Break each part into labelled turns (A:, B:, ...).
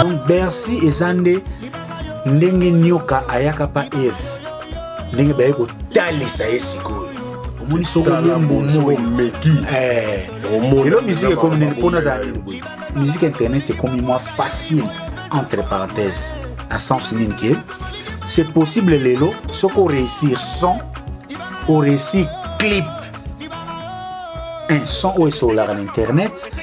A: donc bercy eza nde ndenge nyoka ayaka pa eve ndenge baye kotalisa ye sikoyo omoni soko yembomoyomeki
B: eh.
A: lelo miziki ekomi nini mpo nazala nini boye miziki internet ekomi mwa facile entre parenthèse na sens nini ke c'est possible lelo soki oréussir son oréussir clip un son oyo esololaka na internet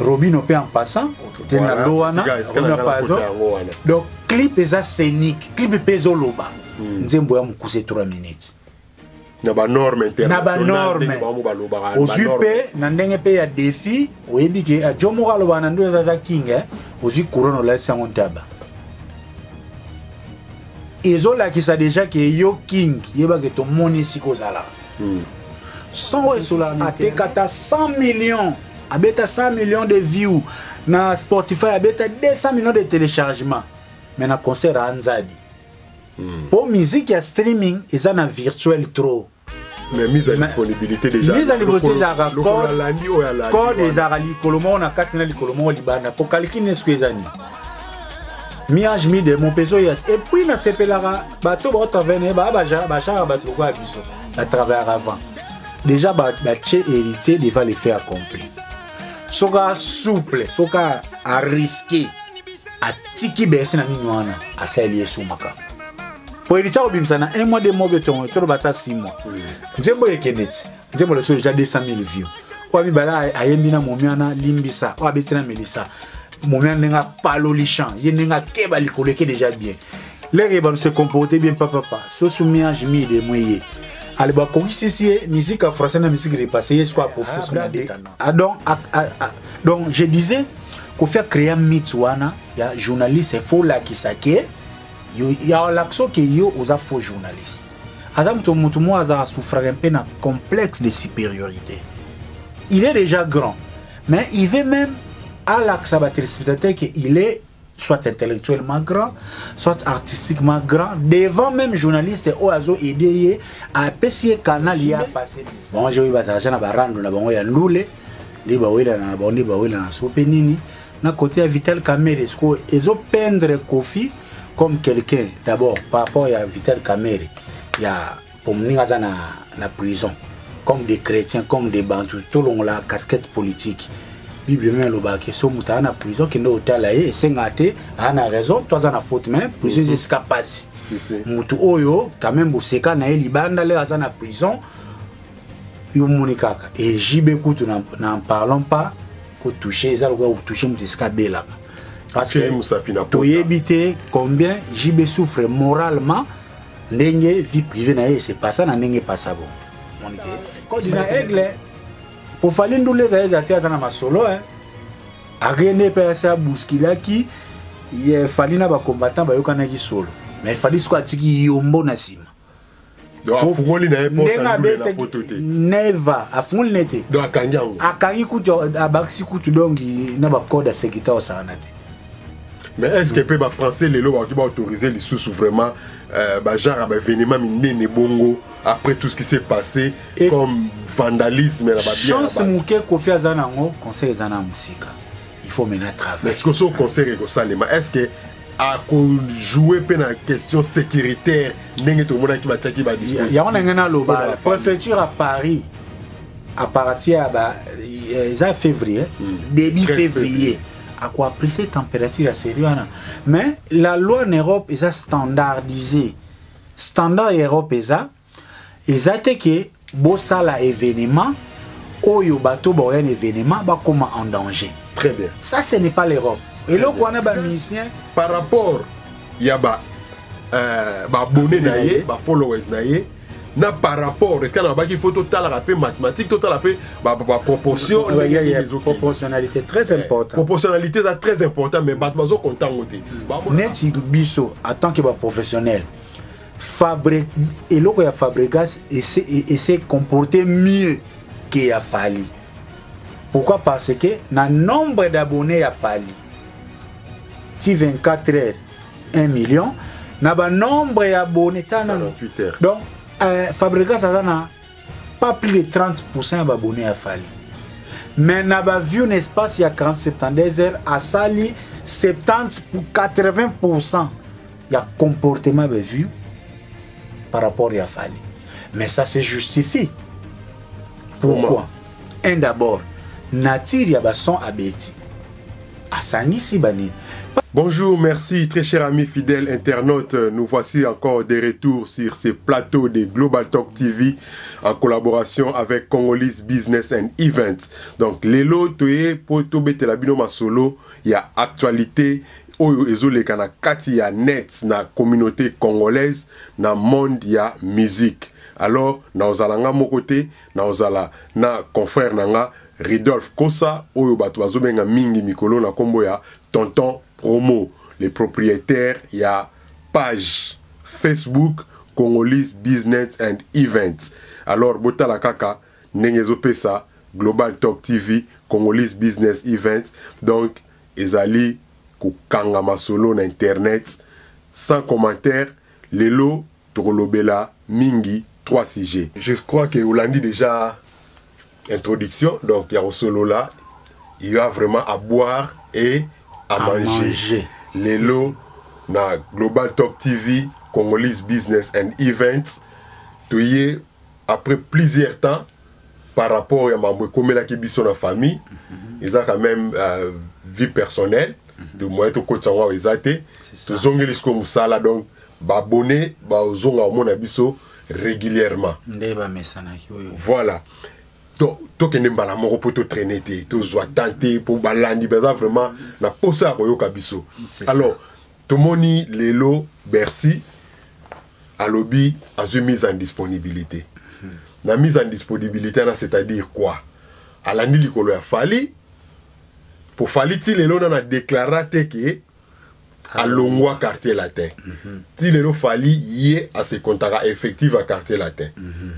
A: robino mpe en passant te na lo wana robino pardon donc clip eza scénique clip mpe ezoloba hmm. nzembo ya mokuse 3 minutes na
B: banorme internationalbanorme ozwi
A: mpe na ndenge mpe ya défi oyebi ke eh, jo moko alobaka na ndoyo ezaza king eh, ozwi couronne olalisi yango ntaba ezolakisa deja ke yo king yebake tomoni esika ozalaka hmm. son oyo esolaka atekata 100 millions abeta 100 millions de view na spotify abeta 200 millions de téléchargement mais na concert a nzadi hmm. mpo mm. musique ya streaming eza na virtuel trop mais mise
B: à disponibilité déjà mise à disponibilité
A: ezalaka code ezalaka likolo moko na kati na likolo moko libanda mpo kaliki nesko eza nini miage mi demo mpe ezoya te epuis nasepelaka bato baotravene baa bashaka bato lokola biso batravayaka avant deja batie ba héritier devant le fait accompli soka souple soka ariske atiki berse na nini wana asaleli yesu makambo mpo héritier akobimisa na un mois de mois betongo toloba ata six mois mm. nzembo ekende ti nzembo leso deja 200 000 view oyo mibale ayembi na momi wana limbisa oyo abeti na melisa momia ndenge apaloli champ ye ndenge akeba likolo eke deja bien lere bato se comporte bien papapa sosu miange mide mwe ye ale bakokisisi ye musique ya français na musique repasse ye siko aprofite soko na detana donc donc je disais kofi acrea mythe wana ya journaliste fo olakisa ke olakisa ke yo oza faux journaliste aza moto moto moko azala souffraka mpe na complexe de supériorité il est déjà grand Mais il veut même à l'accès ba téléspectateurs que il est soit intellectuellement grand, soit artistiquement grand, devant même journaliste ou azo aidé à apprécier canal il a passé. Bon, j'ai eu ba argent na ba rando na bango ya ndule, ni ba wela na ba ni ba wela na sope nini. Na côté ya Vital Kamerhe, ce que ezo pendre Kofi comme quelqu'un d'abord par rapport à Vital Kamerhe, il y a po moninga aza na, na prison comme des chrétiens comme des bantu tolongola casquette politique bible meme elobaka ke so moto aa na prison kende otala ye esengaka te aa na raison to aza na faute mais prison eza esika mpasi moto oyo quand même boseka na ye libanda lere aza na prison yo moni kaka ejibe kutu na parlant pas kotouche eza lokola kotouche moto esika abelaka parce que toyebi te combien jibe souffre moralement ndenge vie privée na ye se passa na ndenge passa bo monike kodi na aigle mpo fali ndule ezali ezala te aza na masolo e akende mpe asi abuskilaki fali na bacombattant bayokanaki solo mais fali siko atiki yombo na nsima
B: afungoli na ye poto te neva
A: afungoli na ye te
B: akangi kutu
A: abakisi kutu donki na bacode ya sekita osakana te mais
B: est ce que mpe bafrançais lelo bakoki baautorise lisusu vraiment euh, bagenre ya baévénement minene bongo après tout ce qui s'est passé Et comme vandalisme na bachance moke kofi
A: aza na yango conseil eza na mosika il faut maintenant travailler mais sikoso concert
B: ekosalema est ce que akojoue mpe na question sécuritaire ndenge tomonaki batiaki badisposiyango na ngai naloba
A: préfecture à paris à partir ya ba eza février hmm. début février à quoi apprécier température à sérieux hein. mais la loi en Europe est standardisée standard en Europe est ça ezate ke bosala événement oyo bato baoya na événement bakoma en danger très bien ça ce
B: n'est pas l'europe
A: eloko wana bamusicien par rapport
B: ya ba euh, baabonne na ye bafollowers na ye na par rapport esika nalobaki fo totalaka mpe mathématique totala mpe baproportion proportionnalité
A: très eh, important proportionnalité eza très
B: important mais bato bazokonta
A: yango
B: te neti
A: biso en tant que baprofessionnel fabre eloko ya fabregas ese comporte mieux que ya fali pourquoi parce que na nombre d'abonnés ya fali ti 24 heures 1 million na ba nombre ya abonné ta na donc
B: euh,
A: Fabregas aza na pas plus de 30% ya ba abonné ya Fally mais na ba view na espace ya 40 72 heures asali 70 pour 80% ya comportement ba view par rapport ya Fally mais ça se justifie pourquoi, pourquoi? un d'abord nature ya bason abeti asangisi banini Bonjour,
B: merci très cher ami fidèle internaute. Nous voici encore de retour sur ces plateaux de Global Talk TV en collaboration avec Congolese Business and Events. Donc lelo toye po to betela bino masolo ya actualité oyo ezoleka na kati ya net na communauté congolaise na monde ya musique. alors na ozalanga moko te nakozala na confrère na nga Ridolphe Kosa oyo bato bazobenga mingi mikolo na kombo ya Tonton Promo le propriétaire ya page Facebook Congolese Business and Events alors botala kaka ndenge ezopesa Global Talk TV Congolese Business Events donc ezali kokanga masolo na internet sans commentaire lelo Tokolobela mingi trois sujets. Je crois que olandi déjà introduction donc ya kosolola il y a vraiment à boire et à, à manger. manger. Lelo na Global Talk TV Congolese Business and Events toye après plusieurs temps par rapport ya mambo ekomelaki biso na famille eza quand même euh, vie personnelle de moyen tokotisa yango awa eza te tozongeli sikoyo mosala donc babone bazonga komona biso régulièrement nde bamesanaki oyo voilà tokende mbala moko mpo totraine te tozwa temps te mpo balandi baza vraiment na mposa ya koyoka biso alors tomoni lelo bercy alobi azwi mise en disponibilité na mise en disponibilité wana c'est-à-dire quoi alandi likolo ya fali po fali ti lelo nana deklara te ke alongwa quartier latin mhm. ti lelo fali ye asekontaka effective ya quartier latin mhm.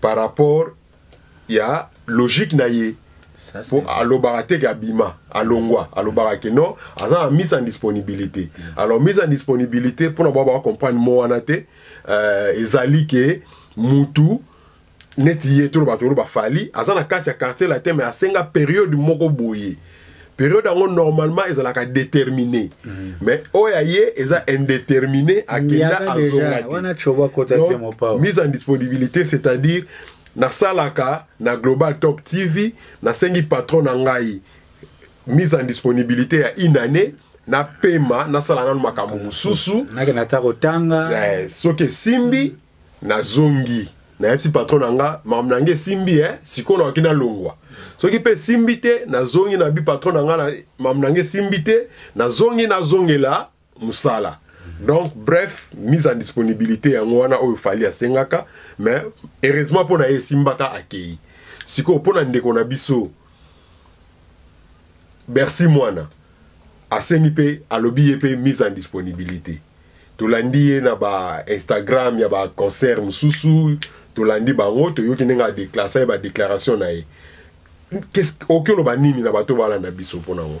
B: par rapport ya logique na ye mpo alobaka te ke abima alongwa alobaka ke non aza na mise en disponibilité alors mise en disponibilité mpona bao bacomprendre mo wana te euh, ezali ke mutu neti ye toloba toloba fali aza na kati ya quartier latin mais asenga periode moko boye periode yango normalement ezalaka déterminé mm. mais oyo ya ye eza indéterminé akenda azonga te mise en disponibilité c'est-à-dire nasalaka na global top tv nasengi patron na ngai mise en disponibilité ya une année napema nasala nano makambo mosusu eh,
A: soki esimbi
B: mm. nazongi nayebisi patron na nga makambo na nga esimbi e sikoyo nakoki nalongwa soki mpe esimbi te nazongi na bi patron na nga makambo na nga esimbi te nazongi nazongela mosala donc bref mise en disponibilité yango wana oyo fali asengaka mais heureusement mpo na ye esimbaka akei sikoyo mpo na ndeko na biso bercy mwana asengi mpe alobi ye mpe mise en disponibilité tolandi ye na ba instagram ya ba concert mosusu tolandi bango toyoki ndenge adeklasa ye badéclaration na ye oki oloba nini na bato balanda biso mpo na yango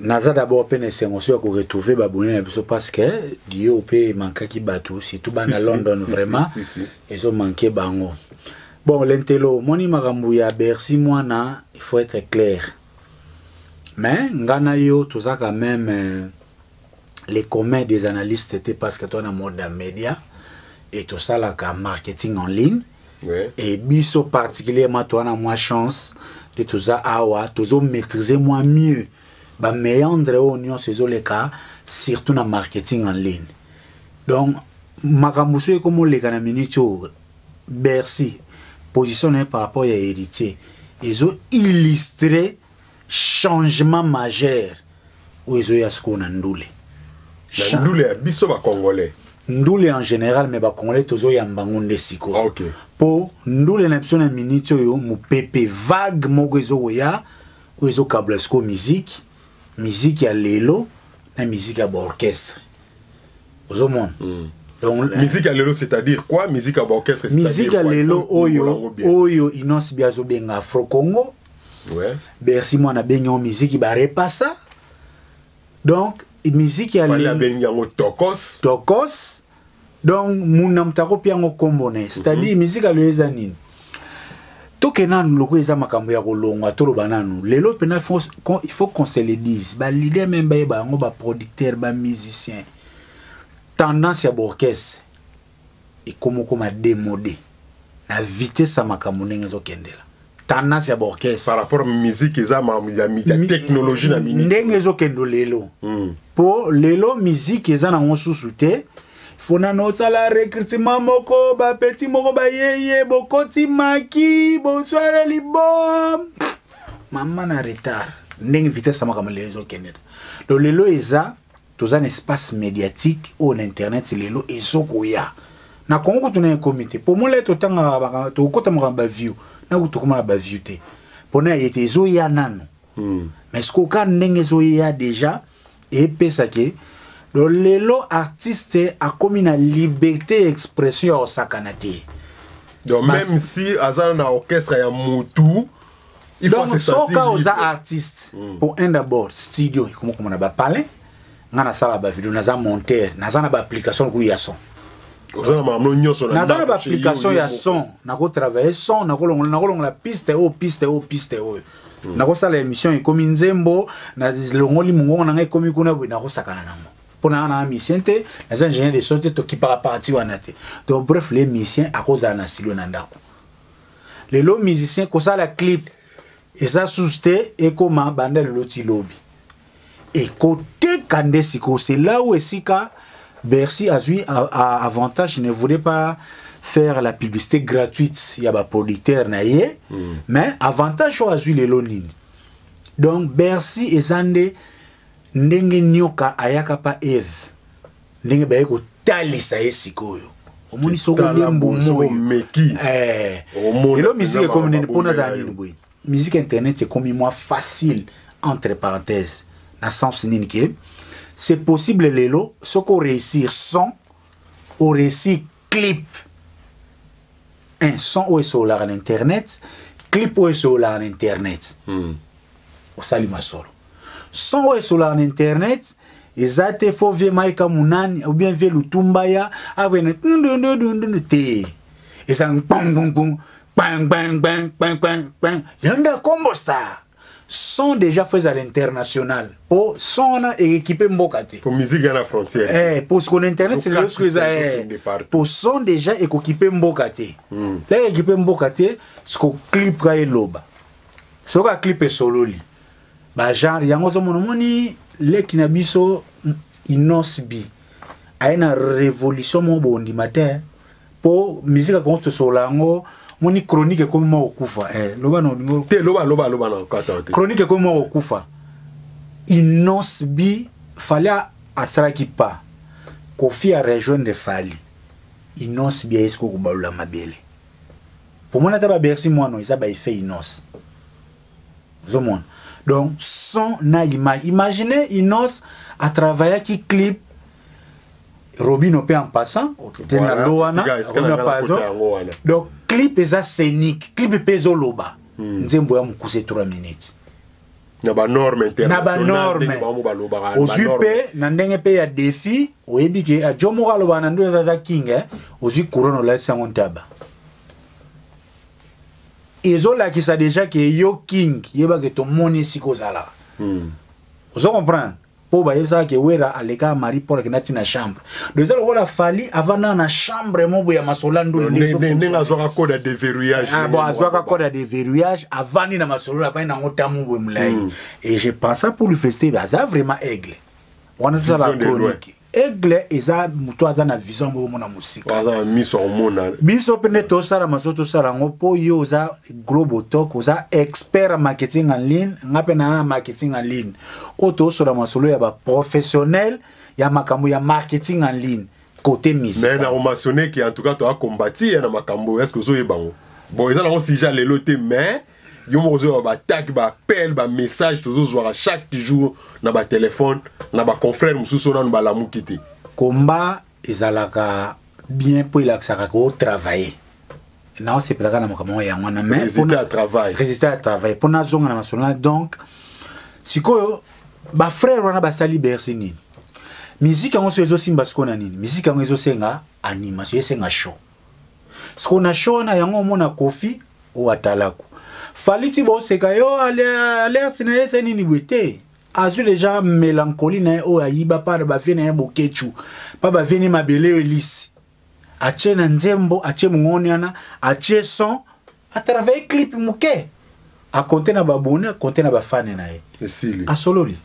A: naza d'abord mpe na esengo so ya koretrouve babone na biso parce que dio mpe emankaki bato surtout bana london vraiment ezomanke bango bon lentelo omoni makambo ya bercy mwana il faut être clair mais ngai na yo toza quand même euh, les communs des analystes te parce que toza na mode ya média et tosalaka marketing en ligne ouais. et
B: biso
A: particulièrement toi na moi chance te toza awa tozo maîtriser moi mieux ba meandre oyo nyonso ezoleka surtout na marketing en ligne donc makambo soki ekomoleka na minute oyo bercy position na ye par rapport ya héritier ezo illustre changement majeur oyo ezoya sikoyo na ndule
B: na ndule ya biso bacongolais ndule en
A: général mais bacongolais tozoyamba yango nde sikoyo ah, okay. mpo
B: ndule
A: na biso na miniti oyo mopepe vague moko ezokoya oyo ezokabla sikoyo miziki miziki ya lelo na miziki ya baorchestre ozomona mm. Donc, musique ya lelo
B: c'est-à-dire quoi musique ya baorchestre musique ya lelo oyo
A: oyo inonce bi azobenga afro congo ouais.
B: bercy mwana abengi
A: yango miziki barepasa donc miziki abengi yango
B: tokos tokos
A: donc muna moto akopi yango nkombo na ye c'est-à-dire mm -hmm. miziki aloyo eza nini toke nanu loko eza makambo ya kolongwa toloba nanu lelo mpena il faut qu'on se le dise balider meme bayeba yango baproducteur bamusicien tendance ya baorchestre ekomokoma demode na vitesse ya makambo ndenge ezokendela tendance ya baorchestre par rapport musique
B: eza ya technologie na minute ndenge ezokendo lelo
A: hmm. po lelo musique eza nango susu te fo nano osala recrutement moko bapeti moko bayeye bokoti maki boswale libom mama na retard ndenge vitesse ya makambo lelo ezokendela lo lelo eza toza na espace médiatique oyo na internet lelo ezokoya na kongo kutu na ekomi te mpo molai totangaka tokokota makambo baview na kutu tokoma na baview te mpo na ye te ezoya nano hmm. mais sikoyo kaka ndenge ezoya déjà epesa ke do lelo artiste akomi na liberté ya expression ya kosakana te donc
B: même si aza na orchestre ya motu donc soka oza artiste
A: mm. po un d'abord studio ekomokoma na bapalin nga nasala bavideo naza monteur naza na baapplication lokola ya son
B: naza na baapplication ya
A: son nakotravaille son nakolongola piste oyo piste oyo piste oyo mm. nakosala émission ekomi nzembo nalongoli mongongo na ngai ekomi kuna boye nakosakana nango mpo na wana misien te naza ingénieur de son te tokipaka parti wana te donc bref le misien akozala na studio na ndako lelo musicien kosala clip eza susu te ekoma banda lelo ti lobi ekoteka nde sikoyo c'est là où esika bercy azwi avantage ne voulait pas faire la publicité gratuite ya baproducteur na ye mm. mais avantage oyo azwi lelo nini donc bercy eza nde ndenge nioka ayaka pa eve ndenge baye kotalisa ye sikoyo omoni soko omeki
B: eh.
A: lelo miziki ekomi nini mpo nazala nini boye miziki internet ekomi mwa facile entre parenthèse na sens nini ke c'est possible lelo soki oréussir son oréussir clip un son oyo esololaka na internet clip oyo esololaka na internet hmm. osali masolo son oyo esololaka na internet eza te fo vie maika munani ou bien vie lutumba ya awene tundundundundu te eza ngbongbongbong kpangbangbangbangbang yanda kombo star son déjà fait à l'international po son wana ekipe mboka te po musique ya na frontière
B: eh po sikoyo na internet c'est
A: le sikoyo eza eh po son déjà ekokipe mboka te hmm. la ekipe mboka te sikoyo clip ka eloba soki aclipe esololi bagenre yango ozomona omoni leki na biso inosbi aye na révolution moko bondima te po musique ya kongo tosolola yango moni chronique ekomi mwa kokufa eh, loba na olingo te loba loba loba
B: na kata te chronique ekomi mwa kokufa
A: innos bi fali asalaki pa kofi a rejoindre fali innos bi ayesi kokobalula mabele pomona ata babersi mwana eza baeffet innos ozomona donc son na image imagine inos atravaillaki clip robino mpe en passant okay, te na lo wana pardon donc clip eza scénique clip mpe ezoloba hmm. nzembo ya mokuse 3 minutes na
B: banorme internationalozwi
A: mpe na ndenge mpe ya défi oyebi ke eh, jo moko alobaka na ndoyo eza aza king eh? ozwi couronne olalisi yango ntaba ezolakisa deja ke yo king yeba ke tomoni esika ozalaka mm. ozo comprendre mpo bayebisaka ke wera aleka marie paul akenda ntina chambre do eza lokola fali avanda na chambre mobo ya masola ndolndenge azwaka
B: code ya deverrouillage ah, bon azwaka code ya
A: deverrouillage avandi na masolo avandi nango ta mobo molai hmm. et je pensa pour lui feste aza vraiment aigle wana tozala chronique aigle eza moto aza na vision yango omona mosika aza na miso akomona
B: biso mpe nde tosala
A: maso tosala yango mpo yo oza global talk oza expert ya marketing en ligne nga mpe naa na marketing en ligne oyo tosola masolo ya baprofessionnel ya makambo ya marketing en ligne côté musique mais na komasionne ke
B: en tout cas toakombati ye na makambo est ce que ozoyeba yango bon eza nango sujet ya lelo te mais yo moko ozozwa baatake baappel bamessage tozozwaka chaque jour na batelefone na baconfrère mosusu nanu balamuki te komba
A: ezalaka bien mpo elakisaka kotravaille naosepelaka na makambo yango wana mairesultat ya travail
B: résultat ya travail mpo nazonga
A: na masolo na donc sikoyo bafrère wana basali bercy nini miziki yango so ezosimba sikoyo na nini miziki yango ezosenga animation esenga show siko na show wana yango omona kofi oyo atalaku fali ti boseka yo alerte na ye se nini boye te azwi deja melankoli na ye oyo ayiba mpa na bavie na ye bokechu mpa bavie ne mabele oyo elisi atie na nzembo atie mongoni wana atie son a travailler clip muke a compter na ba abonné a compter na ba fan na ye esili a sololi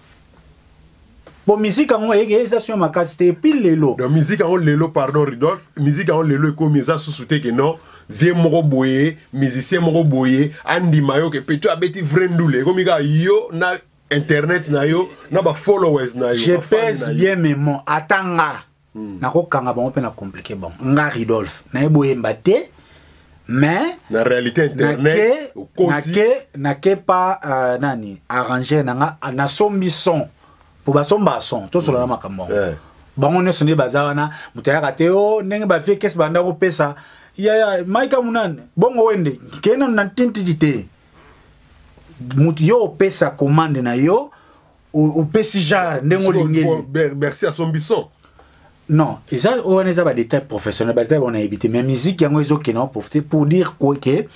A: bon musique yango eyeke eza sio makasi te epuis lelo donc musique yango lelo
B: pardon rudolphe musique yango lelo ekomi eza susu te ke non vie moko boye musicien moko boye andima yo ke peto abeti vrai ndule ekomi kaka yo na internet na yo na ba followers na yo je pèse bien
A: mes mots atanga hmm. nakokanga bango mpe na compliqué bango nga ridolphe naye boyemba te mais na réalité
B: internet nake
A: nake pa uh, nani arranger na nga nasombi son mpo basombaka son tosolola hmm. makambo yango eh. bango nyonso nde baza wana moto ayaka te o oh, ndenge bavie kesi banda kopesa yaya maika munane bongo wende kena na tintidi te moto yo opesa commande na yo opesi genre ndenge olingeli bercy asombi son
B: non
A: eza oyo wana eza badetail professionnel badetail wana yebi te mais musique yango ezokende yango profite pour dire ke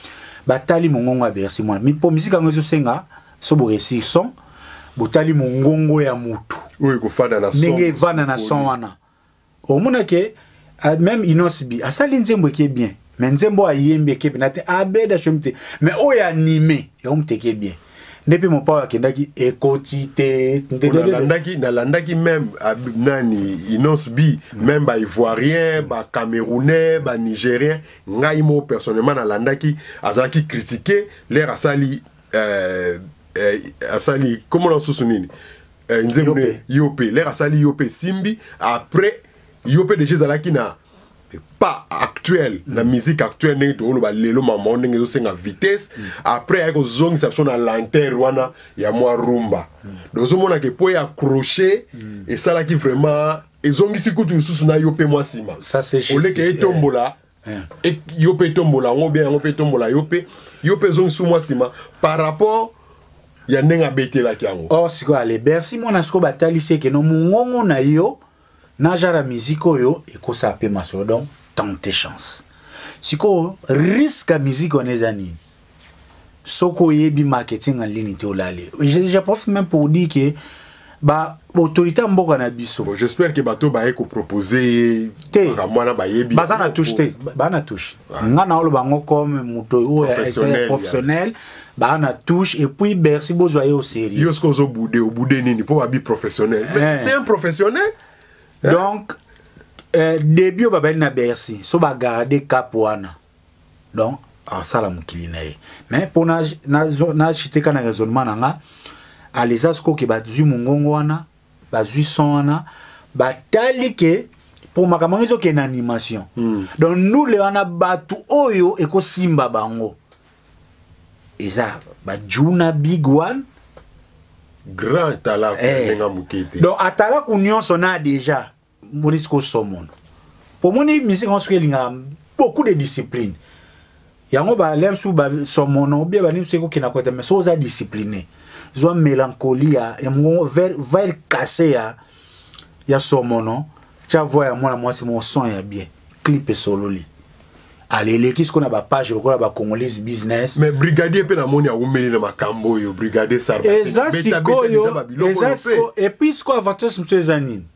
A: batali mongongo ya bercy mwana mpo musique yango ezosenga so boresir son botali mongongo ya motu
B: ndenge evanda na son
A: wana omona ke ah, même inos bi asali nzembo eke bien mais nzembo ayembi eke pena te abeda ah, shomi te mais oyo anime yango moto eke bien nde mpe mopao akendaki ekoti te nalandaki
B: nalandaki meme ah, nani inonce bi meme baivoirien bacamerounais banigérien ngai moko personnellement nalandaki azalaki kritike lere asali euh, euh, asali komona mosusu nini eh, nzembo ne yo mpe lere asali yo mpe esimbi après yo mpe deja ezalaki na pas actuel mm. na musique actuelle ndenge tokoloba lelo mama ndenge ezosenga vitesse mm. après ayaki kozongisa biso na lenteur wana ya mwa rumba mm. donc ozomona ke mpo ya accroche mm. esalaki vraiment ezongisi kutu lisusu na yo mpe mwa nsima oleke
A: etombola
B: yeah. eh. yo mpe etombola yango bien yango mpe etombola yo mpe yo mpe ezongisi mwa nsima par rapport ya ndenge abetelaki yango or oh, sikoyo ale bercy
A: mwana sikoyo batalisi ekeno mongongo na yo na genre ya miziki oyo ekosa mpe masolo donc tente chance sikoyo riske ya miziki wana eza nini soki oyebi marketing en ligne te olali je profite même pour dire que ba autorité ya mboka na biso bon, j'espère que bato baye
B: kopropose ye te mwana bayebi baza na touche te
A: baa na touche ah. nga na oloba yango comme moto oyo professionnel baa na touche et puis bercy bozwa ye au sérieux yo soki ozobude
B: obude nini mpo babi professionnel eh. c'est un professionnel eh. donc
A: eh, début oyo babandi na bercy so bagarde cap wana donc asala mokili na ye mais mpo nachite ka na raisonnement na nga aleza sikoyo ke bazwi mongongo wana bazwi son wana batali ke mpo makambo yango ezokende na animation mm. donc ndule wana bato oyo ekosimba bango eza bajuna big one
B: grand atalaku eh. ndenge moke te donc atalaku
A: nyonso na deja monisi kosomono omoni misiki yango soki elingaka beaucoup de discipline yango balere su basomono obie baningi soki kokenda kote me soki oza discipline zwa mélancolie ya, ya mongongo vire kase ya, ya somono tya voi ya mwana mwasi moko son ya bien clip esololi aleleki sikoyo na bapage lokola bacongolese business mais brigadier mpe namoni
B: awumeli na makambo oyo brigadier sareza sikoyo eza sikoyo
A: epuis sikoyo avantage mosusu eza nini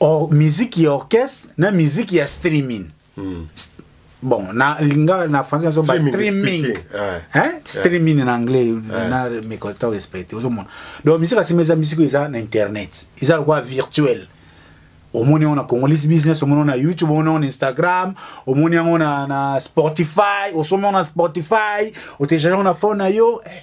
A: or musique ya orchestre na musique ya streaming mm. bon na lingala na français nazo ba streaming yeah. hein streaming yeah. na anglais yeah. na mécontent respecté ozomona donc musique asima eza musique eza na internet eza lokola virtuel omoni yango na congolese business omoni yango na youtube omoni yango na instagram omoni yango na, na spotify osomi yango na spotify otelechange yango na phone na yo eh.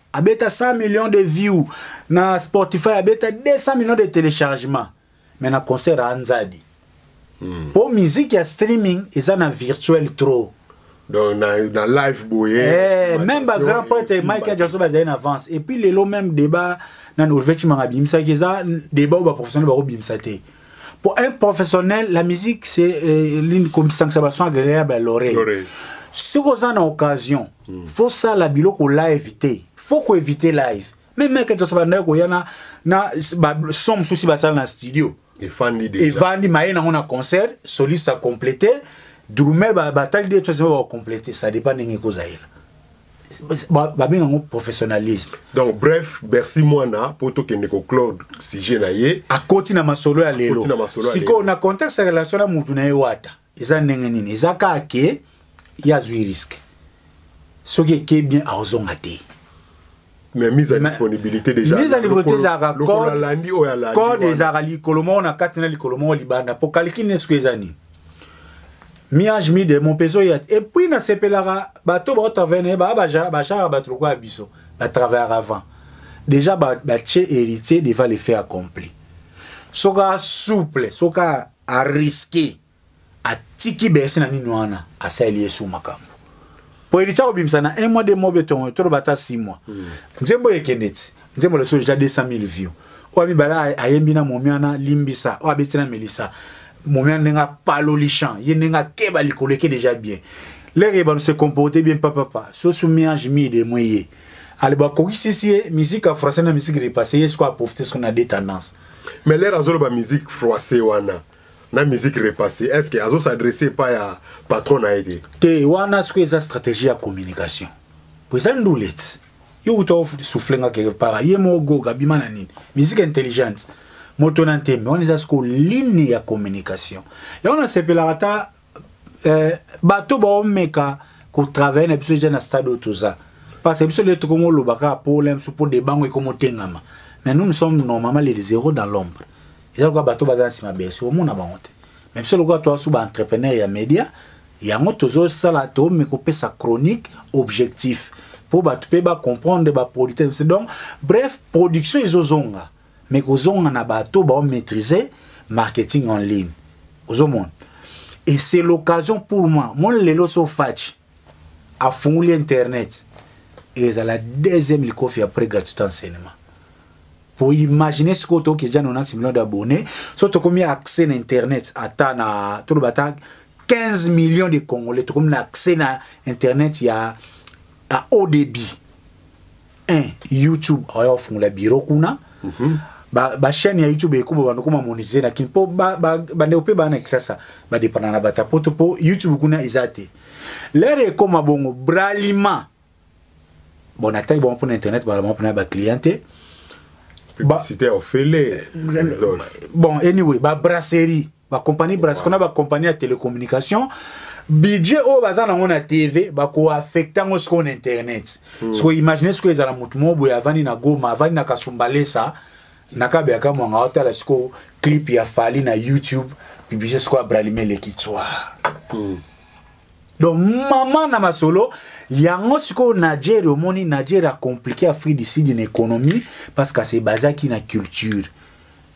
A: abeta 100 millions de views na Spotify abeta 200 millions de téléchargements mais na concert a nzadi hmm. po musique ya streaming eza na virtuel trop donc na,
B: na live boye eh, même
A: ba grand prêtre Michael Jackson bazali na avance et puis lelo même débat na Olivier Chimanga bimisaki eza débat oyo ba professionnel bako bimisa te pour un professionnel la musique c'est euh, l'une comme sanction agréable à l'oreille soki oza na occasion mm. faut sala biloko live te faut ko éviter live mais mec to saba ndako yana na ba somme souci ba sala na studio efandi déjà
B: efandi maye na ngona concert
A: soliste a complété drummer ba batali de choses ba complété ça dépend ndenge ko zaela babenga yango professionnalisme donc bref
B: bercy mwana mpo tokende koclore sujet na ye akoti na masolo
A: ya lelo sikoyo na contexte ya relation na motu na ye wata eza ndenge nini eza kaka ke ye azwi riske soki eke bien akozonga te mais
B: mise à disponibilité déjà mise à disponibilité
A: ezalaka code ezalaka likolo moko na kati na likolo moko libanda mpo kalikini esuku eza nini miange midemo mpe ezoya te epuis nasepelaka bato baotravene baa bajaka bato lokola biso batravayaka avant déjà batie héritier devant le fait accompli soka souple soka a risque atiki bercy na nini wana asaleli yesu makambo po elitya kobimisa na un mois de mois betongo toloba ata six mois hmm. nzembo ekende ti nzembo leso deja 200 mille view oyo mibale ayembi na momiana limbisa oyo abeti na melisa momiana ndenge apaloli champ ye ndenge akeba likolo eke deja bien lere ebano se comporte bien papapa sosu miange mide mwe ye ale bakokisisi ye musique ya français na musique repasse ye sikoyo aprofite sikoyo na de tendance mais lere azoloba
B: musique français wana na musique repasse est ce que azo s'adresse epai ya patron na ye te te wana sikoyo eza
A: stratégie ya communication po eza nduleti yo uta osouffle nga quelque part ye moko goga bima na nini musique intelligente moto na ntembe wana eza sikoyo ligne ya communication yango nasepelaka ata eh, bato baomeka kotravaille na biso eja na stade oyo toza parce que biso lelo tokomoloba kaka mpo ola biso mpo debango ekomotengama mais nous nous sommes normalement les zéro dans l'ombre eza lokola bato baza na nsima bersi omona bango te mais biso lokola toasu baentrepreneur ya média yango tozosala toomeka kopesa chronique objectif mpo bato mpe bacomprendre bapolitese donc bref production ezozonga mais kozonga na bato bao maîtriser marketing en ligne ozomona et c'est l'occasion pour moi mon lelo so faci afunguli internet ezala deuxième likofi après gratuité enseignement pour imaginer ce que toki déjà 90 millions d'abonnés so tokomi accès na internet ata na toloba ata 15 millions de congolais tokomi na accès na internet ya à haut débit un youtube aya ofungola biro kuna mm -hmm. bachaîne ba ya youtube ekoba bandokoma monise na kin mpo bandeko mpe baa na kisasa badepana na bata poto mpo youtube kuna eza te lere ekoma bongo bralima bon ataki bango mpo na internet bala bango mpo na baclient te
B: publicité ofele
A: bon anyway babrasserie ba bakompani brasco na bakompani ya télécommunication budget oyo baza nango na tv bakoaffecte yango sikoyo na internet hmm. sikoyo imagine sikoyo ezala motu moko boye avandi na goma avandi na kasumbalesa na kabe ya kamwanga otala sikoyo clip ya fali na youtube publicité sikoyo abralime eleki tswa hmm. donc mama na masolo yango sikoyo nigeria omoni nigeria acomplike afrique du sud na économie parce que se basaki na culture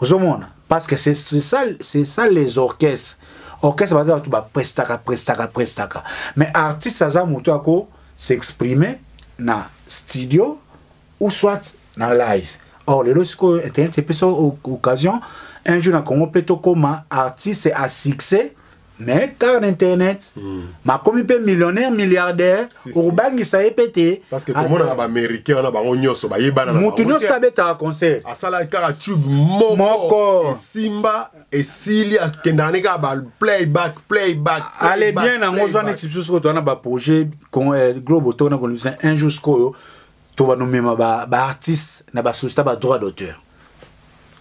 A: ozomona parce que c'est ça, ça les orchestres orchestre baza bato baprestaka prestaka prestaka mais artiste aza moto ya ko s'exprimer na studio ou soit na live or lelo sikoyo internet epesa occasion un jour na congo mpe tokóma artiste à succès mais kaka na internet mm. makomi mpe millionnaire milliardaire si, si. okobangisa ye mpe te parce que tomonaka
B: baaméricain wana bango nyonso bayebana motu nyonso abetaka
A: concert asalaki kaka tube
B: moko, moko. esimba esili akendaka ne kaka baplayback playback ale
A: bien yango ozwa neti biso soki towana baprojet eh, globe otona kolobisa un jour sikoyo to bando mema ba ba artiste na ba société ba droit d'auteur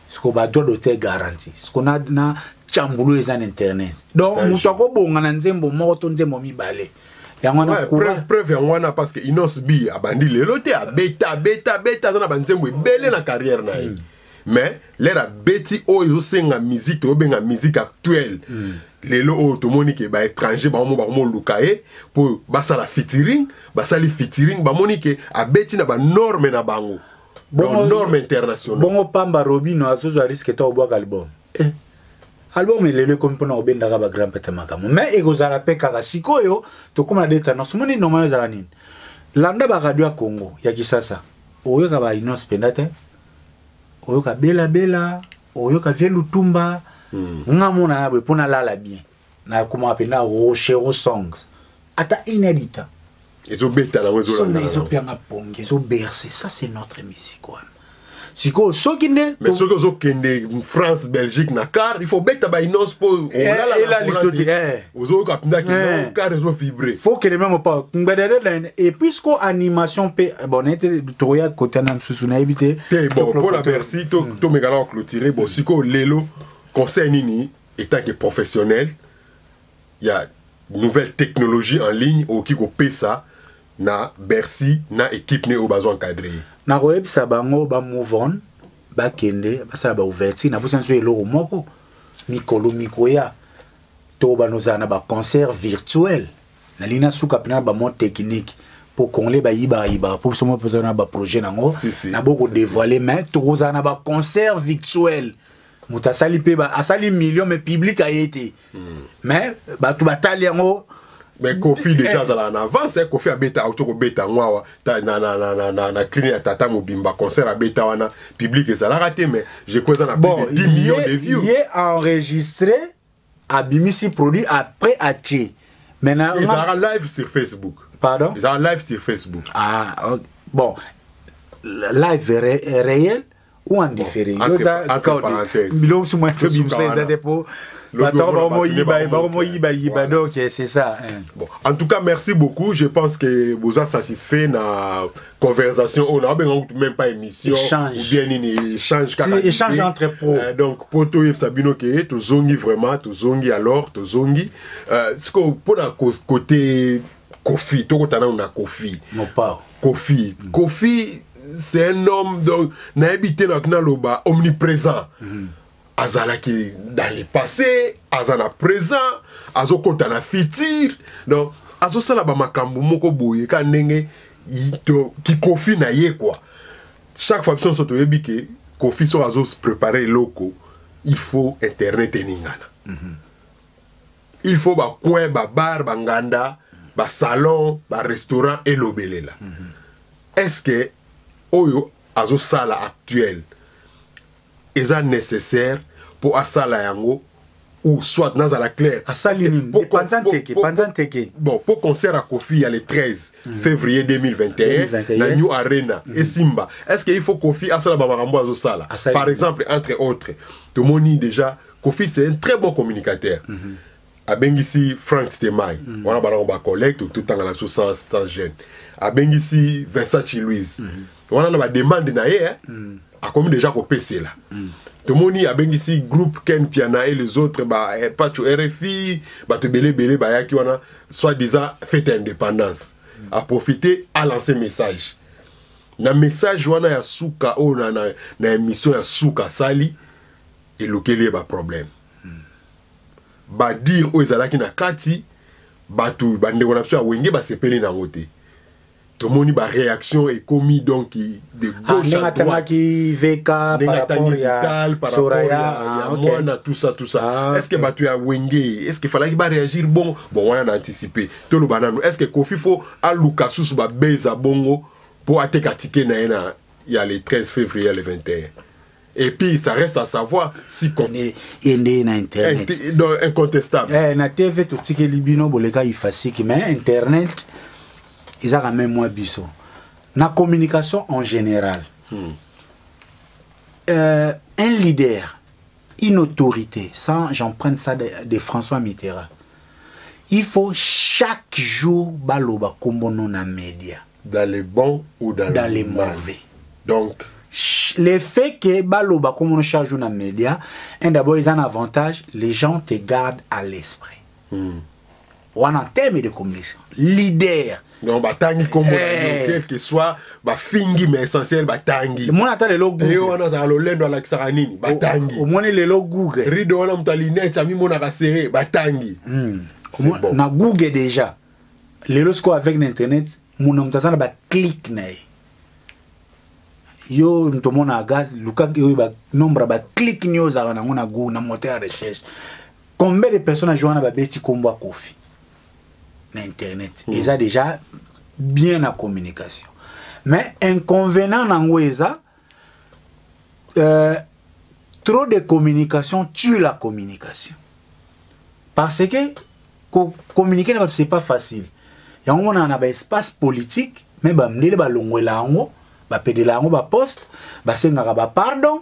A: siko ba droit d'auteur garantie siko na na chambulu eza na internet donc mutu akobonga na nzembo moko to nzembo mibale yango wana preuve preuve yango wana
B: parce que Innos B abandi lelo te abeta abeta abeta aza na ba nzembo ebele na carrière na ye mm. mais lere abeti oyo ezosenga musique toyobenga musique actuelle mm. lelo oyo tomoni ke baétranger bango bakomoluka ye mpo basala fitiring basali fitiring bamoni ke abeti na banorme na bango norme international bongo pamba robino
A: azozwa riske to obwaka album eh. album elelo ekomi mpona kobendaka bagrand pete makambo mais ekozala mpe kaka sikoyo tokóma na de tendance omoni normal ezala nini landa baradio ya congo ya kisasa oyoka bainonce mpenza te oyoka bela bela oyoka vie lutumba mm. nga mona ya boye mpo nalala bien nakomaka mpena rochero songs ata inedita ezobeta
B: nango ezopianga pongi
A: ezoberse ça c'est notre musique wana sikoyo soki nde mais soki ozokende
B: france belgique na car il faut beta bainonce mpo eh, olalala eh, ozoyoka mpenza ke eh. kare ezo vibre fo kele meme pa
A: ngbedede na ene et puis ko animation mpe eh, bon nayete tokoya kota na mosusu nayebi te te bon mpo na bercy
B: tomekana hmm. koclotire bon sikoyo lelo conseil nini etant ke professionnel ya nouvelle technologie en ligne okoki kopesa na bercy na équipe ne oyo bazo encadre ye nakoyebisa
A: bango ba move on bakende basala baouverture naposi na biso eloko moko mikolo mikoya to bana ozala na baconcert virtuel nalingi nasuka mpena na bamode technique mpo congolais bayibaka yibaka mpo biso moko na baprojet nango na bokodevoile mais tokozala na baconcert virtuel moto asali mpe asali million mais public aye te mais bato batali yango mais kofi
B: deja eh. azalaka na avance eh, kofi abeta auti kobeta yango awa na, na, na, na, na, na crine ya tata mobimba concert abeta wana public ezalaka te mais jeko eza na bon, plus de 10 millions de vues ye enregistré
A: abimisi produit après atie maintenant ezalaka live sur
B: facebook pardon ezalaka live
A: sur facebook
B: ah okay.
A: bon live ré, réel ou en différé yo za
B: biloko suma to bimso
A: eza te po bato yango bakomoyiba bakomoyiba yiba donc c'est ça hein. bon en tout cas
B: merci beaucoup je pense que boza satisfait na conversation oyo naobenga kutu même pas émission ou bien nini échange kaka échange entre pro
A: euh, donc po toyebisa
B: bino ke tozongi vraiment tozongi alors tozongi euh, sikoyo mpo na côté kofi tokota nano na kofi mopao kofi
A: mm. kofi
B: c'est un homme donc nayebi te nayoki naloba omniprésent mm -hmm. azalaki dans le passé aza na présent azokota na futur donc azosala bamakambo moko boye ka ndenge kikofi na ye kua chaque fois biso nyonso toyebi ke kofi soki azoprepare eloko il faut internet eningana mm -hmm. il faut ba coin ba bar ba nganda ba salon ba restaurant elobelela mm -hmm. est ce que oyo azosala actuel eza nécessaire mpo asala yango ou soit nazala clair asali nini panza nteke panza nteke bon mpo concert ya kofi ya le 13 mm. février 2021 na new arena mm. esimba est ce que il faut kofi asala bamakambo azosala par exemple entre autres tomoni déjà mm. kofi c'est un très bon communicateur mm -hmm. abengisi frank stemai mm -hmm. wana banango bacollègue totanga na biso sans, sans gene abengisi vincent chilouise mm -hmm. wana na bademande na ye eh? mm -hmm akomi deja kopesela mm. tomoni abengisi groupe ken piana et les autres ba eh, pacho rfi bato ebele ebele bayaki wana soit disant fete ya indépendance mm. aprofite alance message na message wana ya suka oyo na, na, na émission ya suka asali elukeli ye baproblème badire oyo ezalaki na kati bato bandeko na biso ya wenge basepeli na yango te tomoni baréaction ekomi donc de ah, gauche à droite
A: ndenge atani vital par rapport ya ah, mwana tout ça
B: tout ça ah, est ce que bato ya wenge est ce que falaki baréagir bongo bon wana na anticipe toloba nano est ce que kofi fo aluka susu babeza bongo mpo ateka tike na ye na ya le 13 février ya le 21 et puis ça reste à savoir si ye nde na
A: internet eh, donc incontestable
B: eh, na tv
A: totikeli bino boleka ifasiki mais internet eza quand même mwa biso na communication en général hmm. euh, un leader une autorité sans j'emprunte ça de, de françois mitterrand il faut chaque jour baloba kombono na média dans le bon
B: ou dans, dans le, le mauvais
A: donc
B: le
A: fait que baloba comme on charge na média un d'abord ils ont un avantage les gens te gardent à l'esprit hmm. on a un thème de communication leader donc batangi
B: kombo na eh. quel que soit bafingi mais essentiel batangi omoni ata
A: lelo
B: google
A: wana azala lolendo
B: alakisaka nini batangi omoni lelo google
A: rido wana moto ya linete
B: amimonaka sere batangi hmm.
A: na google déjà lelo sikoyo avec na internet mona moto aza na baclike na ye yo moto omona gaz luka oyo banombre ya baclike nio ozalaka nango na gou na moteur ya recherche combien de personnes ajo wana babeti nkombo ya kofi na internet mm. eza déjà bien na communication mais inconvenant nango eza euh, trop de communication tue la communication parce que communiquer na c'est pas facile yango monana na baespace politique me bamindele balongwela yango bapedela yango baposte basengaka bapardon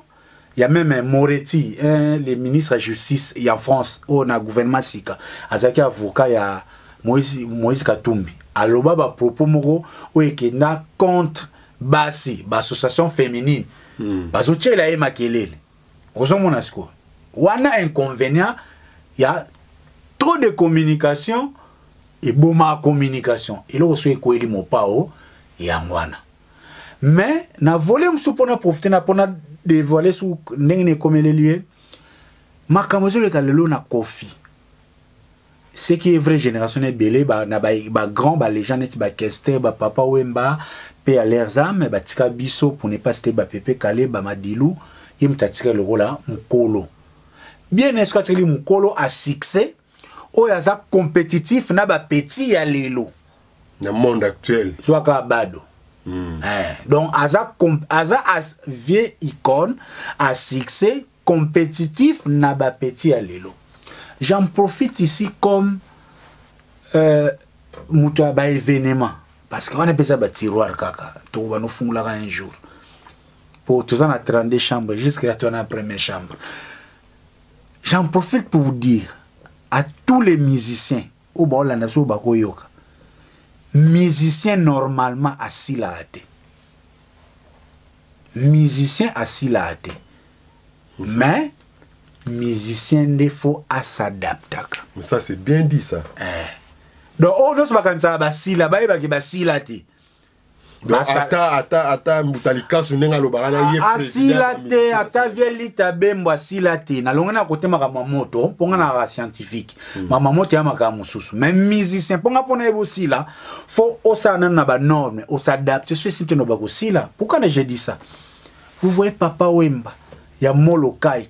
A: ya meme moreti eh, le ministre ya justice ya france oyo na gouvernement sika azalaki avocat ya moïse, moïse katumbi aloba bapropos moko oyo ekenda contre basi ba association féminine mm. bazotyela ye makelele ozomona sikoyo wana inconvénient ya trop de communication eboma communication eloko soki ekweli mopao yango wana mais na vole mosusu mpona profite na mpona devoile su ndenge na ekomeleli ye makambo ezoleka lelo na kofi ce qui est vrai génération na ebele ba, na ba, ba grand ba legend neti ba kester ba papa wemba pe à leurs âmes batika biso pour ne pas citer ba pepe kale ba madilu ye moto atika lokola mokolo bien eske atikeli mokolo a succès oyo aza compétitif na ba petit ya lelo na monde
B: actuel zwaka bado
A: mm. eh, donc aza, aza as, vieux icône a succès compétitif na ba petit ya lelo j'en profite ici comme euh, moto ya ba événement parce que wana mpeza ba tiroir kaka tokoba nofungulaka un jour po toza na 32 chambre jusque la toana première chambre j'en profite pour vous dire à tous les musiciens oyo baolanda soki bakoyoka musicien normalement asilaka te musicien asilaka te mais musicien nde fo asadaptaka ça c'est bien
B: dit ça eh. donc
A: oyo oh, nyonso bakanisaka basila bayebaki basila te
B: ata ata ata mbuta likasu ndenge alobaka na ye asila te ata
A: vie lita bembo asila te nalongi na kote makambo ya moto mpo nga naka scientifique hmm. mama moto ya makambo mosusu mais musicien mpo nga mpo na ye bosila fo osala nano na banorme osadapte so esi nteno bakosila pourkana je dis ça vous voyez papa wemba ya molokai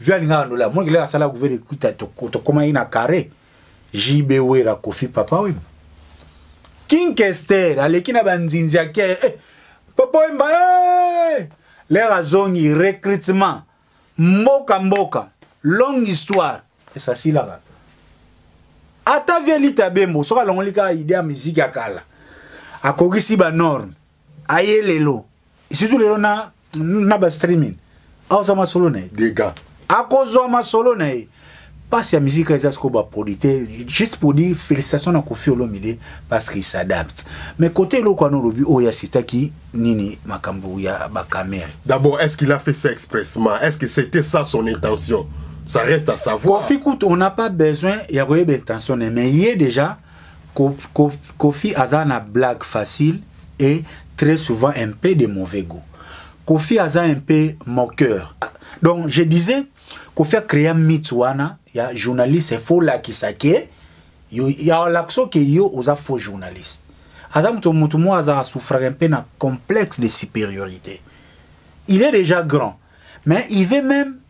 A: vi alingaka ndola mwa kilaka asala guverne kuta tokomaki na carre jb wera kofi papa wemba king kester aleki na banzinzi ake eh, papa wemba hey! Eh! lere azongi recrutement mboka mboka longue histoire esasilaka ata vialita bembo soki alongoli kaka ide ya miziki ya kala akokisi banorme aye lelo surtout lelo na na ba streaming aoza masolo na ye dega
B: akozwa masolo
A: na ye mpasi ya mizika eza sikoyo baproduit te juste pour dire félicitation na kofi olomide parce qu'il s'adapte mais côté eloko wana olobi oyo asitaki nini makambo ya
B: bakamere d'abord est ce qu'il a fait
A: ça
B: expressement est ce que c'était ça son intention ça reste à savoir kofi kutu on n'a pas
A: besoin ya koyeba intention ne mais ye déjà Kofi aza na blague facile et très souvent un peu de mauvais goût. Kofi aza un peu moqueur. Donc je disais Kofi a créé un mythe wana ya journaliste il faut la kisake yo ya lakso ke yo oza faux journaliste. Aza mutu mutu mo aza souffrir un peu na complexe de supériorité. Il est déjà grand mais il veut même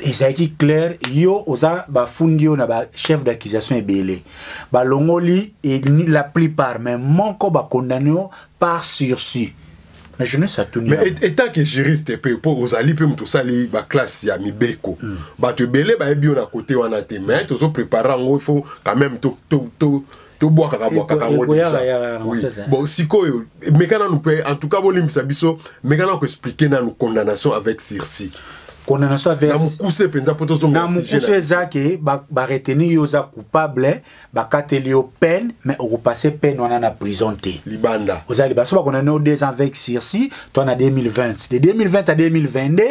A: ezalaki claire yo oza bafundi yo na ba chef d'accusation ebele balongoli la plupart mais moko bakondane yo par sursis mais je ne sais tout mais état que
B: juriste pe po ozali pe mutu sali ba classe ya mibeko mm. bato ebele bayebi yo na côté wana te mais tozo préparer yango il faut quand même to to to tobwakaka bwakaka yango deja bon sikoyo meka nanu mpe en tout cas bolimbisa biso meka nanu koexplike nanu condamnation avec sursis condamnation avec
A: mokuse mpenza mpo
B: tozonga mokuse eza ke
A: bareteni yo oza coupable bakateli yo peine mais okopasse peine wana na prison te libanda oza libanda so
B: bakondamne yo
A: deux ans avec sursis toi na 2020 de 2020 à 2022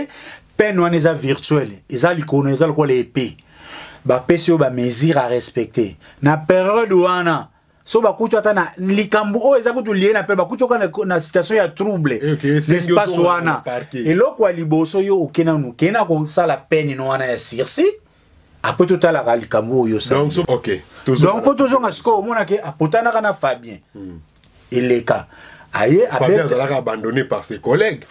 A: pene wana eza virtuel eza likolo eza lokola epe bapesi yo bamesure a respecte na periode wana so bakuti ata na likambo oyo eza kutu lie na mpe bakuti oka na, na situation ya trouble eh, okay, espace wana eloko ya liboso yo oke nanu kei na kosala pene no wana ya sursis après totalaka likambo oyo donc
B: po tozonga
A: sikoyo omonake apotanaka na fabien hmm. eleka aye azalaka abandonné
B: par ses collègues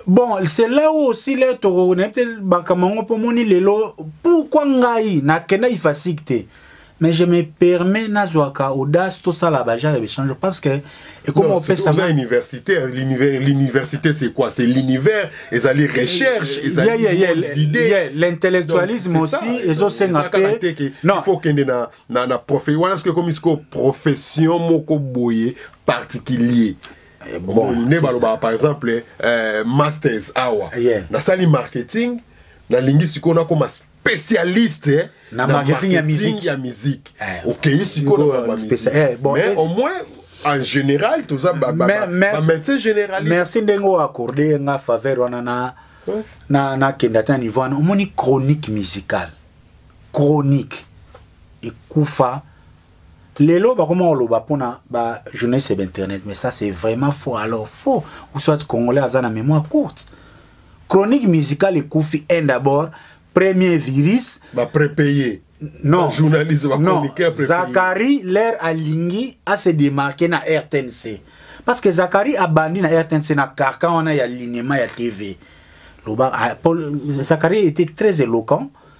B: bon c'est
A: là où aussi le toko nayebi te makambo yango mpo omoni lelo pourkui ngai nakenda ifasik te mais je me permets nazwaka audace tosala bagenre ya bachange parce que ekoma opesama universitaire l'université
B: c'est quoi c'est l'univers ezali recherche ezalilintellectualisme
A: aussi ezosenga mpe faut okende
B: na, na, na profe wana soki ekomi sikoyo profession moko boye particulier eh, bon, nde balobaka par exemple euh, masters awa yeah. nasali marketing nalingi sikoyo nakoma spécialiste na marketing
A: ya musique ya musique eh,
B: okeyi sikoyo na ba musique eh, mais au moins en général toza ba ba ba médecin généraliste merci ndenge o accorder
A: nga faveur wana na na na kenda ta niveau wana omoni chronique musicale chronique ekufa lelo bakoma koloba mpona ba journaliste ya internet mais ça c'est vraiment faux alors faux ou soit congolais aza na mémoire courte chronique musicale ekufi un d'abord premier virus baprepeye
B: non journaliste non zakari l'air
A: alingi ase démarquer na rtnc parce que zakari abandi na rtnc na carcan wana ya linema ya tv loba ah, zakari était très éloquent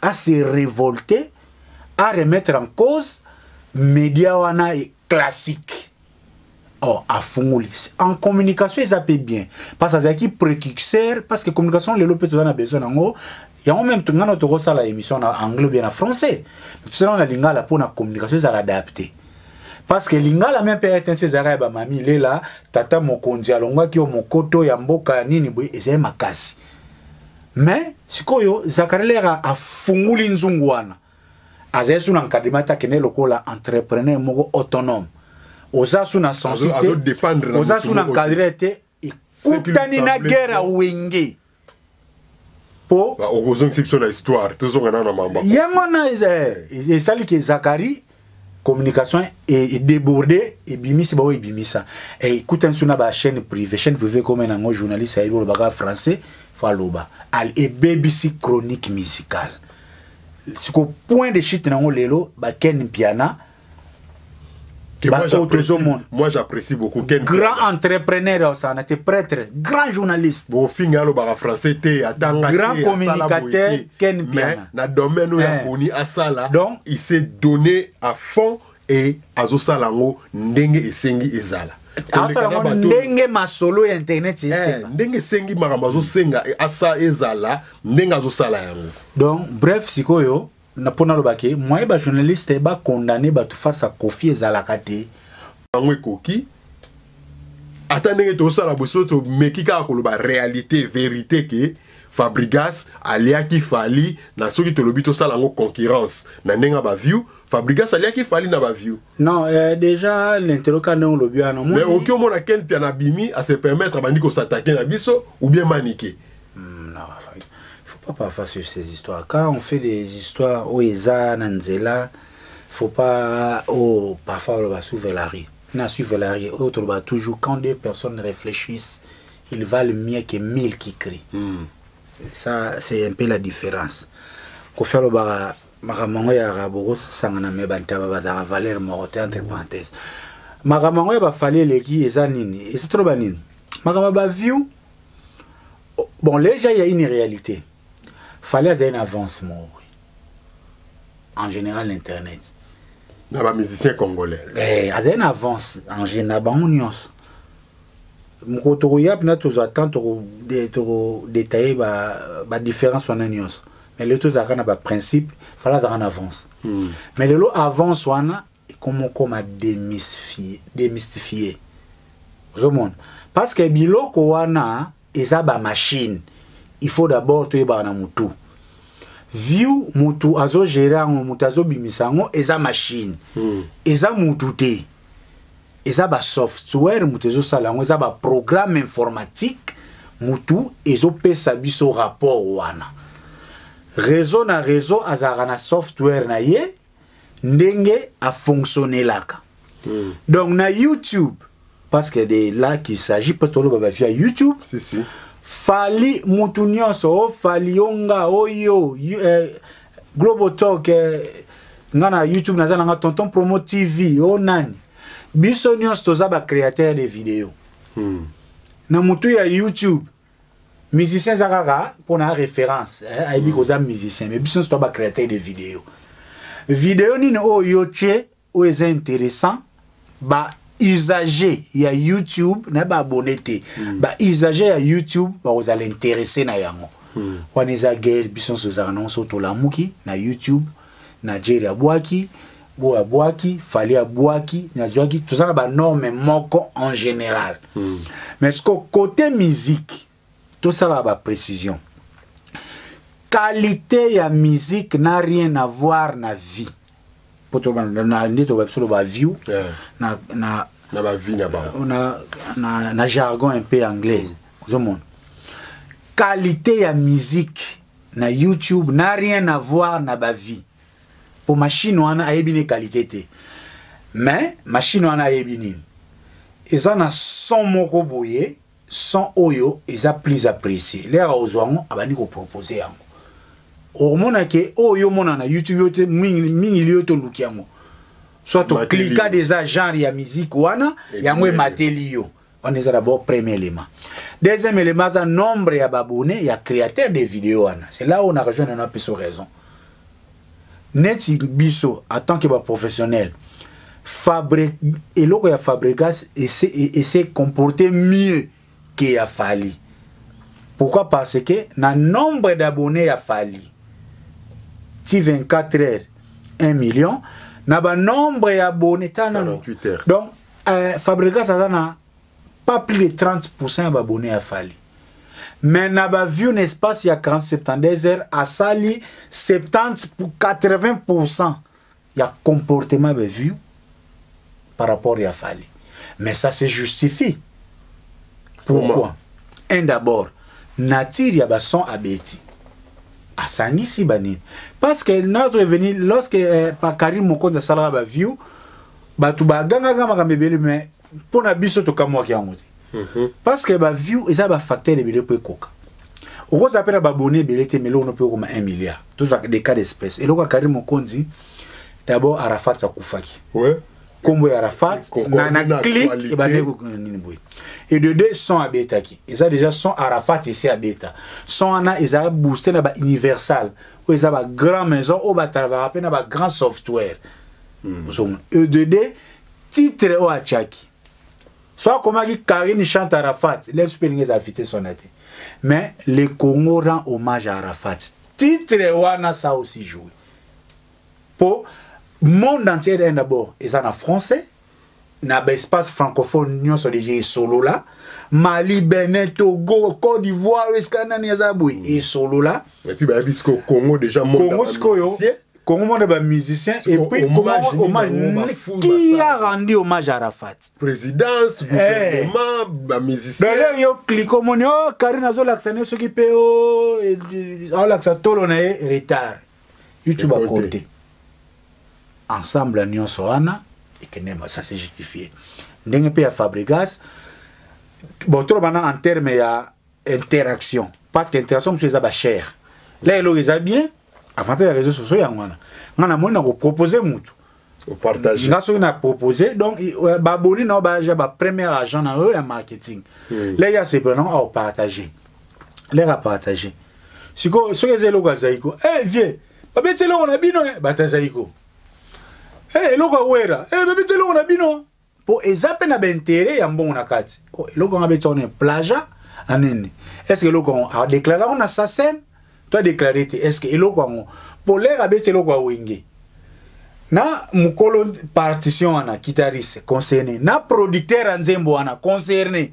A: a se révolter a remettre en cause média wana est classique oh afungoli en communication eza mpe bien parce azalaki précurseur parce que communication lelo mpe toza na besoin nango yango meme ngai na tokosala émission na anglais bien na français tosala na lingala mpo na communication ezala adapte parce que lingala meme mpe rtnc ezalaka ya bamami lela tata mokonzi alongwaki yo mokoto ya mboka ya nini boye ezali makasi mais sikoyo zakarelera afunguli nzungu wana azali su na nkadima te akende lokola entrepreneur moko autonome oza su na sensi te oza su na nkadire te ekutani na guerre ya wenge po okozongisa
B: biso na histoire tozonga nana mamba yango wana
A: esali ke zakari communication e débordé ebimisi baoyo ebimisa ekutani so na bachaîne privé chaîne privé ekoma nango journaliste ayebi olobaka français fo aloba ebebisi chronique musicale siko point de chute nango lelo baken mpiana baoyo
B: tozomona moi j'apprécie beaucoup ken grand entrepreneur
A: osana te prêtre grand journaliste bofinga alobaka
B: français te atanga grand communicateur
A: Ken mais na domaine oyo aponi
B: eh. asala donc il s'est donné à fond et azosala yango ndenge esengi ezala asala ngo
A: ndenge masolo ya internet eh, esenga ndenge esengi
B: makambo azosenga eh, asa ezala ndenge azosala yango donc bref
A: sikoyo mpo nalobaki moyen bajournaliste bacondamne bato face a kofi ezalaka te yango ekoki
B: ata ndenge tosala boso tomeki kaka koloba réalité vérité ke fabrigas aliaki fali na soki tolobi tosala yango concurrence na ndenge ya baview fabrigas aliaki fali na baview non eh, déjà
A: l'interoka ndenge olobi wana mais oki omona ken
B: pia na bimi à se permettre abandi kosatake na biso ou bien manike hmm, non,
A: il faut pas parfois suivre ces histoires quand on fait des histoires oyo eza na nzela faut pas oh parfois oloba sous velari na sous velari oyo toloba toujours quand deux personnes réfléchissent ils valent mieux que mille qui crient mm. ça c'est un peu la différence kofi alobaka makambo yango yaka bokosangana me bantaba bazalaka valeur moko te entre parenthèse makambo yango ya bafali eleki eza nini eza toloba nini makambo ya baview bon leja ya une réalité Fally azali na avance moko boye en général na internet na
B: bamusicien congolais eh, azali na
A: avance en général na bango nyonso mokolo tokoya mpena tozwa temps tokodetaille badifférence wana nyonso mais lelo tozalaka na baprincipe fala azalaka na avance hmm. mais lelo avance wana ekomokoma démystifie ozomona parce que biloko wana eza ba machine il faut d'abord toyebaka na mutu view mutu azogere yango mutu azobimisa yango eza machine mm. eza mutu te eza basoftware mutu ezosala yango eza baprogramme informatique mutu ezopesa biso rapport wana réseau na réseau azalaka na software na ye ndenge a fonctionnelaka mm. donc na youtube parce que de là qu'il s'agit parce que toloba bavia youtube si, si.
B: fali
A: mutu nyonso o oh, fali yo nga oyo oh, eh, global talk eh, nga na youtube naza na nga tonton promo tv o oh, nani biso nyonso toza bacréateur de video mm. na motu ya youtube musicien eza kaka mpo na référence eh, ayebi mm. koza musicien mais biso nyonso to bacréateur de video video nini oyo oh, yo tye oyo eza intéressant ba usager ya youtube na baabone te mm. ba usager ya youtube bakozala interesse na yango mm. wana eza guerre biso nyonso ezalaka nango so tolamuki na youtube na jeri abwaki boyo abwaki fali abwaki nazwaki toza na banorme moko en général mm. mais ce côté musique tosalaka baprécision qualité ya musique n'a rien à voir na vie mpo nde toba biso loba view yeah. na, na, na, ba vie na, bango. na, na, na jargon un peu anglaise mm. ozomona qualité ya musique na youtube na rien à voir na ba vie po machine wana ayebi ne qualité te mais machine wana ayebi nini eza na son moko boye son oyo eza plus apprécié lera ozwa yango abandi kopropose yango okomona ke oyo yo omona na youtube yo te mingi liyo toluki yango soit oklika deja genre ya miziki wana yango emateli yo wana eza d'abord premier élément deuxième élément aza nombre ya babone ya créateur de video wana c'est là oyo na rejoindre nano apeso raison neti biso en tant que baprofessionnel fabre eloko ya fabregas ese e, e comporte mieux que ya fali pourquoi parce que na nombre d'abonné ya fali ti 24 heures 1 million na banombre ya abonné tana donc
B: Euh,
A: Fabregas aza na pas plus de 30% ya babone ya Fally. Mais na ba view na espace ya 40 72 heures asali 70 pour 80% ya comportement ba view par rapport ya Fally. Mais ça se justifie. Pourquoi? Un d'abord, nature ya ba son abeti. asangisi banini parce que notre revenu lorsque eh, par karim mokonzi asalaka baview bato bagangaka makambo ebele me mpo na biso tokamwaki yango te mhm. parce que baview eza bafacteur ebele mpo ekoka okozala mpe na babone ebele te meloko no mpe okoma 1 milliard tozwaka des cas d'espèce eloko ya kari mokonzi d'abord arafat akufaki ouais. nkombo
B: ya arafat
A: na, na click ebandaki kokende nini boye et de deux son abetaki eza déjà son arafat esi abeta son wana eza booste na ba universal oyo eza ba grand maison oyo batalabaka mpe na ba grand software mm. ozomona edede eh, titre oyo atiaki so akomaki karine chante arafat lesi mpe elingi eza vitesse wana te mais le congo rend hommage à arafat titre wana ça aussi joue mpo monde entier d'abord eza na français na baespace francophone nyonso deja esolola mali benin togo côte d'ivoire esika nani aza boye mm. esolola epuis bayebi sikoyo
B: congo deja congo sikoyo congo
A: monde bamusicien epuis qui a rendu hommage à rafat présidence eh.
B: gouvernement bamusicien d'ailleurs yo clique
A: omoni o oh, karine azolakisa ne soki mpe oh, eh, aolakisa tolo na ye retard youtube akote ensemble nyonso wana ekende ça c'est justifié ndenge mpe ya fabrigas bon toloba na en terme ya interaction parce que interaction mosusu eza bachere la eloko eza bien avantage ya réseau sociaux yango wana ngai namoni na kopropose motu
B: nga soki na propose
A: donc euh, baboni na yo baja bapremier agent na yo ya marketing hmm. leki asepela nango aopartage leki apartage sikoyo soki eza eloko ya zaiko e eh, vie babeti eloko na bino eh, bato ya zaiko hey, eh, eloko ya wera hey, eh, babeti eloko na bino mpo eza mpe na baintere ya mbongo na kati oh, eloko yango abeti wana plaja na nini estce eloko yango adeklare yango na sasem to adeklare te estce eloko yango mpo lere abeti eloko ya wenge na mokolo partition wana kitariste concerne na producteur ya nzembo wana concerne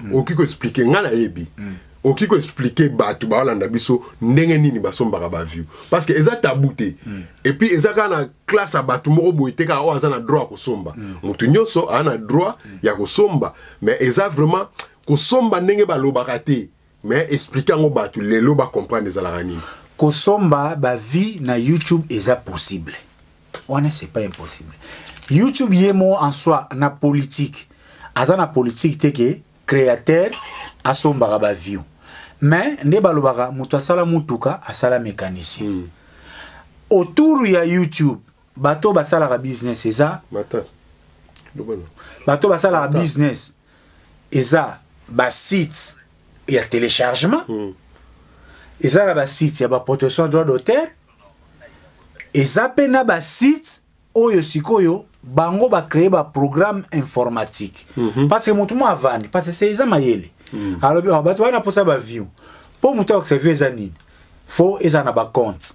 B: mm. okoki koexplike ngai nayebi mm. okoki koexplike bato baolanda biso ndenge nini basombaka baview parce que eza tabu te mm. epuis eza kaka na classe ya bato moko boye te kaka oyo aza na droit ya kosomba mm. moto nyonso aza na droit mm. ya kosomba mais eza vraiment kosomba ndenge balobaka te mais explique yango bato lelo bacomprendre ezalaka nini kosomba
A: bavie na youtube eza possible wana c'est pas impossible youtube ye mo en soi na politique aza na politique te ke créateur asombaka baview mais nde balobaka moto asala motuka asala mécanicien mm. autour ya youtube bato basalaka business eza bato basalaka business eza ba sites ya téléchargement mm. eza na ba sites ya ba protection droit d'auteur eza pe na ba sites oyo sikoyo bango ba créer ba programme informatique mm -hmm. parce que mutu mo avandi parce que c'est eza mayele mm. alobi oh, bato wana posa ba view po mutu akosevie eza nini faut eza na ba compte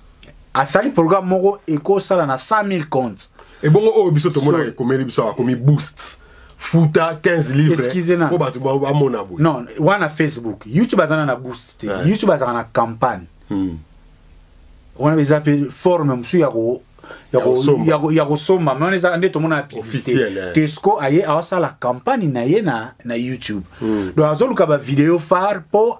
A: asali programme moko ekosala na 100 000 compte ebongo oyo biso
B: tomonaka ekomeli biso akomi boost futa 15 livrespo bato
A: bamona boye non wana facebook youtube azana na boost te yeah. youtube azalaka na campagne hmm. wana eza mpe forme mosusu ya ko ya kosomba me wana eza nde tomona na publicité tesco aye aosala campagne na ye na, na youtube hmm. donc azoluka bavideo phare mpo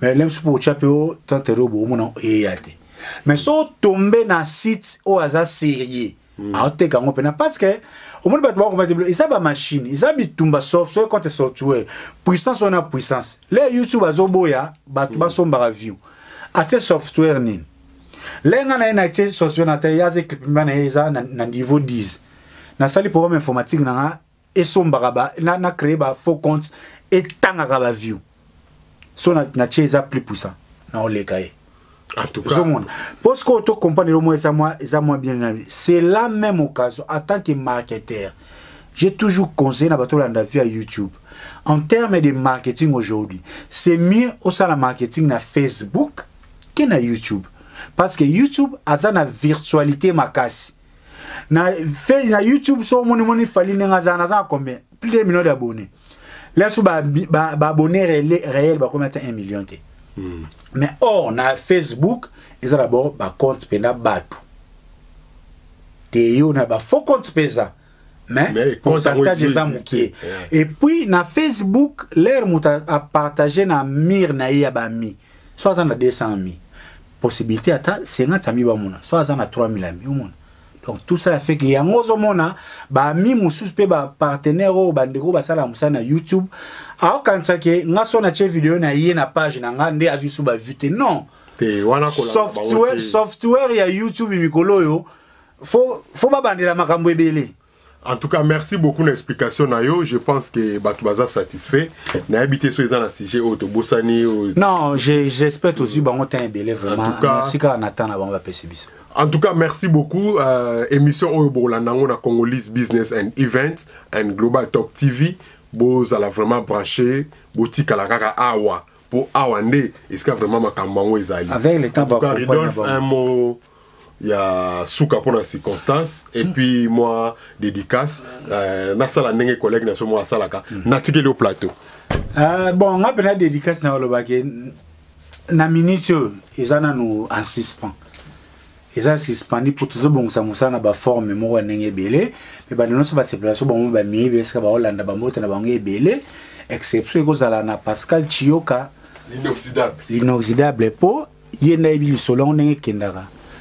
A: mais lems mpo otya mpe o tantere oyo boomona eya te mais so otombe na site oyo aza sérieux mm. aoteka yango mpena parce que omoni bato bakomateblo eza bamashine eza bitumba software contre software puissance wana puissance le youtube azoboya bato mm. basombaka view atie software nini le nga na ye na tie software na te ye aza ekipe mba na ye eza na niveau 10 nasali programme informatique na nga esombaka ba na, na créer ba faux compte etangaka ba view so na, na tie eza plus puissant na oleka ye
B: ozomona mpo sikoyo to
A: comprendre elo mwa eza mwa eza mwa bien na c'est la même occasion en tant que marketeur j'ai toujours conseillé na bato olanda via youtube en terme de marketing aujourd'hui c'est mieux osala marketing na facebook ke na youtube parce que youtube aza na virtualité makasi na fe na youtube so moni moni fali ndenge aza naza na combien plus de million d'abonnés là so ba ba, ba abonnés réel réel ba combien 1 million te mm. mais or na facebook eza d'abord ba compte pena batu te yo na ba faux compte pesa mais, mais contactage eza moke yeah. et puis na facebook l'air moto apartage na mire na ye ya bami so aza na 200 mi possibilité ata 50 ami bamona so aza na 3000 ami omona donc tout ça fait que yango ozomona baami mosusu mpe bapartenaire oyo bandeko basala mosala na youtube aokanisa ke nga so natye video na ye na page na nga nde azwi su bavue te non software, software ya youtube mikolo oyo faut faut babandela makambo ebele en tout cas
B: merci beaucoup na explication na yo je pense que bato baza satisfait nayebi te so eza na sujet oyo tobosani non
A: j'espère tozwi bango temps ebele vraiment merci kaka na temps na bango bapesi biso en tout cas merci
B: beaucoup euh, émission oyo bokolanda yango na congolese business and events and global talk tv bozala vraiment branché botikala kaka awa mpo awa nde esika vraiment makambo yango ezali avec le temps un mot ya suka mpo na circonstance epuis mwa dédicace euh, nasala ndenge collègue na so mwa asalaka mm. natikeli yo plateau euh, bon
A: nga mpe na dédicace na olobaki na minute oyo eza nanu en suspens eza suspendi mpo tozobongisa mosala na baforme moko ya ndenge ebele me bando nyonso basepela so bango bamiyebi esika baolanda bambote na bango ebele exception ekozala na pascal chioka l'inoxydable po ye nayebi lisolo yango ndenge ekendaka